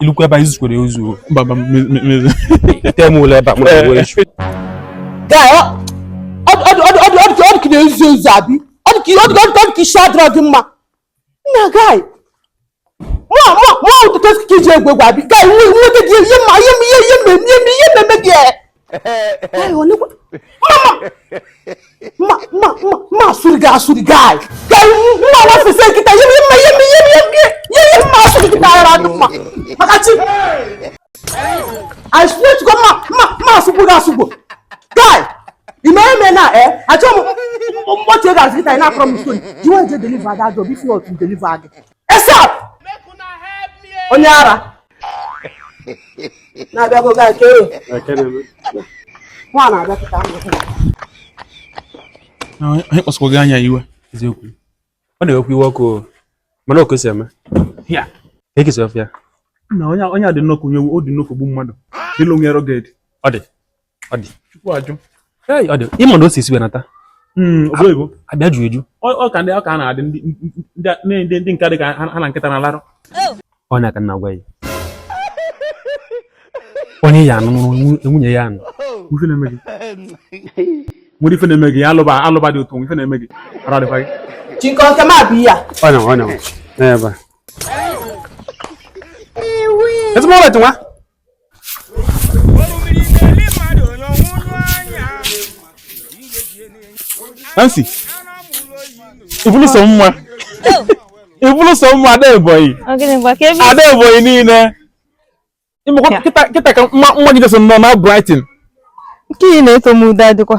ilukwa ebe anyị zukwere ozu temụlụ ebe ọ dị ka ị na-ezuzu abi ọ dị ka isi adịrọ gị mma nna guy mụọ ụtụtụ ka i ji egwu egwu abi guy nweta gị ihe mma ihe mmemme ihe mmemme gị I swear to God, ma, ma, ma, asụgbu gị asụgbu. Guy, ị ma eme na eh, achọghị m mkpọchi ego azụ kịta ị na-akọrọ m ntoni. You wan dey deliver that job if not, you deliver again. ASAP onye ara na-abịakwa gaa nke nwa na-abịa pụta anyị kpasakwa gị anya iwe eziokwu ọ na-ewekwa iwe ọkụ mana ọ ka o si eme ya ekesi ọfịa na onye a dị nnọkụ onye ọ dị nnọkụ gbu mmadụ ịlụ nwere oge dị ọ dị ọ dị chukwu ajụ ee ọ dị ị ma na o si esi wenata hmm, abịa ju eju ọ ka ndị ọ ka na-adị ndị ndị nke dị ka ha na nkịta na-alarụ ọ na-aka na-agwa ya onye ya anụ nwunye ya anụ nwere ife na-eme gị ya alụba alụba dị otu ife na-eme gị ara dịkwa gị Chike nke ma bụ ya ọ na ọ na ebe ezigbo ọrụ nwa Nancy, i bulu sọ mma. I bulu sọ mma ada Ebonyi. Ada Ebonyi niile. Ị makwa kịta ka mma gị jeso nọ na brighten. Nke ị na-ete ude adịkwa.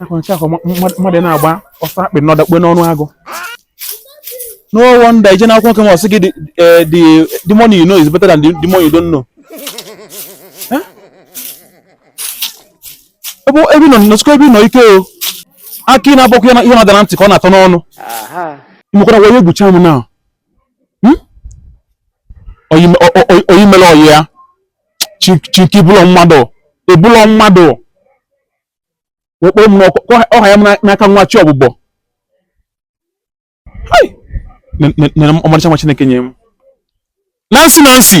ọ kwa mmadụ na-agba ọsọ akpị na ọ dakpue n'ọnụ agụ no wonder ije n'akwụkwọ nke m ọsị gị eh, demon you know is better than demon you don't know ebe ị nọ nọsikwa ebe ị nọ ike o akị inu abọkwa ihe na-ada na ntị ka ọ na-atọ n'ọnụ imekwara wee egbucha m na hmm? ọyị mere ọyị ya Chike ị bụlọ mmadụ ị bụlọ mmadụ wee kpọrọ mmụọ hanye m n'aka nwa chi ọbụbọ nene ọmarịcha nwa Chineke nye m Nancy Nancy